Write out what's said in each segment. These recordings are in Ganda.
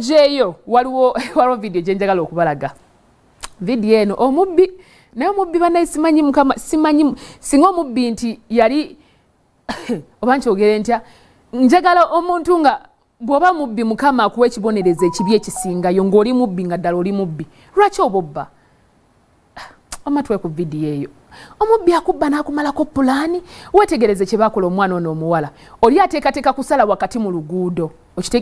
jeyo waliwo waliwo video gyenjagala okubalaga video eno omubbi naye omubbi banaye simanyi mukama simanyi singa omubbi nti yali oba nkyogere ntya njagala omuntu nga bwoba mubbi mukama akuwa ekibonerezo ekibi ekisingayo ngaoli mubbi nga ddala oli mubbi lwaki obobba wama tuwe ku vidiyo eyo omubbi akubba n'akumalako pulaani wetegereze kye bakola omwana ono omuwala oli ateekateeka kusala wakati mu luguudo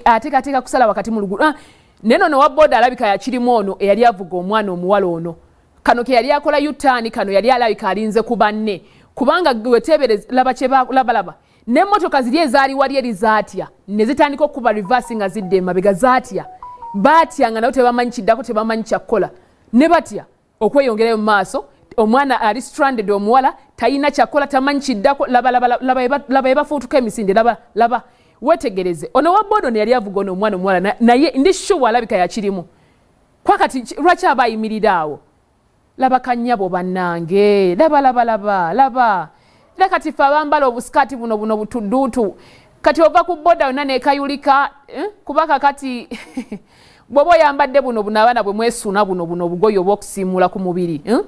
ateekateeka kusala wakati mu luguudo ah, naye nono wa booda alabika yakirimu ono eyali avuga omwana omuwala ono kano ke yali akola yutaani kano yali alabika alinze ku banne kubanga weteebereze laba kyebalabalaba n'emmotoka ziri ezaali wali eri zaatya ne zitandika okukuba reverse nga zidda emabega zaatya baatya nga nabo tebamanyi kiddako tebamanyi kyakukola ne batya okweyongerayo mu maaso omwana ali stranded omuwala talina kyakola tamanyi kiddako laba ebafuutuka emisinde laba laba wetegereze ono wa bodo neyali avuga ono omwana omuwala naye ndi shuwa alabika yakirimu kwakati lwaki aba ayimirira awo laba kanyabo banange laba laba laba laba era kati ffe abambala obusikaati buno buno butuduutu kati ova ku boda yonna nekayulika eh? kuba kakati bwoba oyambadde buno buno abaana bwe mwesuuna buno buno obugoyi oba okusiimuula ku mubiri eh?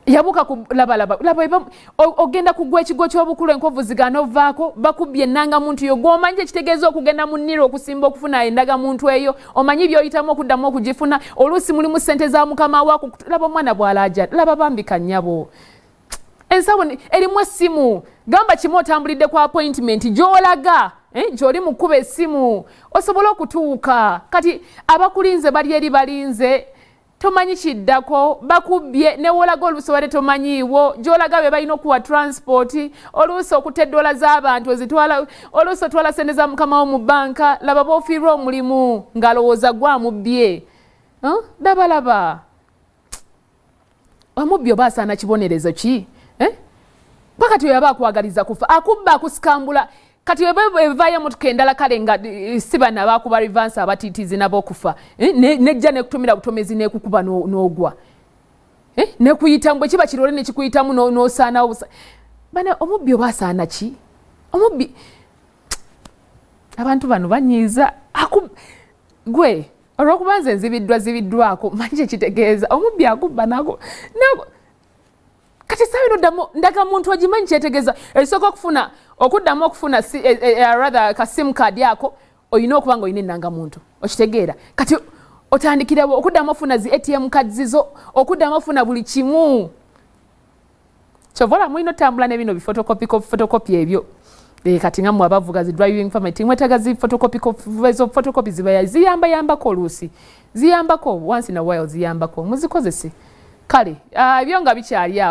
yabuka kulabalaba ogenda kugwa ekigo kyobukulu enkovu zigana ovaako bakubbye enanga muntu yo gwomanyi kyekitegeeza okugenda mu niro okusimba okufuna endaga muntu eyo omanyi byoyitamu okuddamu okugifuna oluusi mulimu sente za mukama waku laba omwana bwalaja laba bambika nyabo ensawo erimu essimu gamba kimu otambulidde ku appointment gyolaga eh, gyoli mukuba essimu osobole okutuuka kati abakulinze bali eri balinze tomanyi kiddako bakubbye newolaga oluusi obadde tomanyiiwo gyolaga be balina okuwa transport oluusi okuta eddoola z'abantu ozitwala oluusi otwala sente za mukamawo mu banka laba bofiirwa omulimu ng'alowooza gwamubbye dabalaba huh? omubbi oba asaana kibonerezo ki eh? ba kati oyaba akwagaliza kufa akubba akusikambula kati evayo emotoka endala kale nga eh, si bana bakuba rivansi abatiitizi nabo okufa eh? nejja nekutumira butomezi nekukuba n'ogwa eh? nekuyitamu bwe kiba kirole nekikuyitamu nosaanawo bana omubbi oba asaana ki omubbi abantu bano banyiiza gwe olwokuba nze nzibiddwa zibiddwako manyi kyekitegeeza omubbi akubba nago nago kati esawa eno ddamu ndaga muntu ogimanyi kyetegeeza ekisooka okufuna okuddamu okufuna si, e, e, e, rather ka sim card ako olina okuba nga olina ennanga muntu okitegeera kati otandikirawo okuddamu ofuna zi atm card zizo okuddamu ofuna buli kimu kyova olaba mulina otambula ne bino bifotokopi fotokopi ebyo eh, kati nga mwe abavuga zi driving permit mwetaga zi fotokopi ezo fotokopi zibaya ziyamba yambako oluusi ziyambako once in a while ziyambako muzikozese kale ah, ebyo nga bikyali awo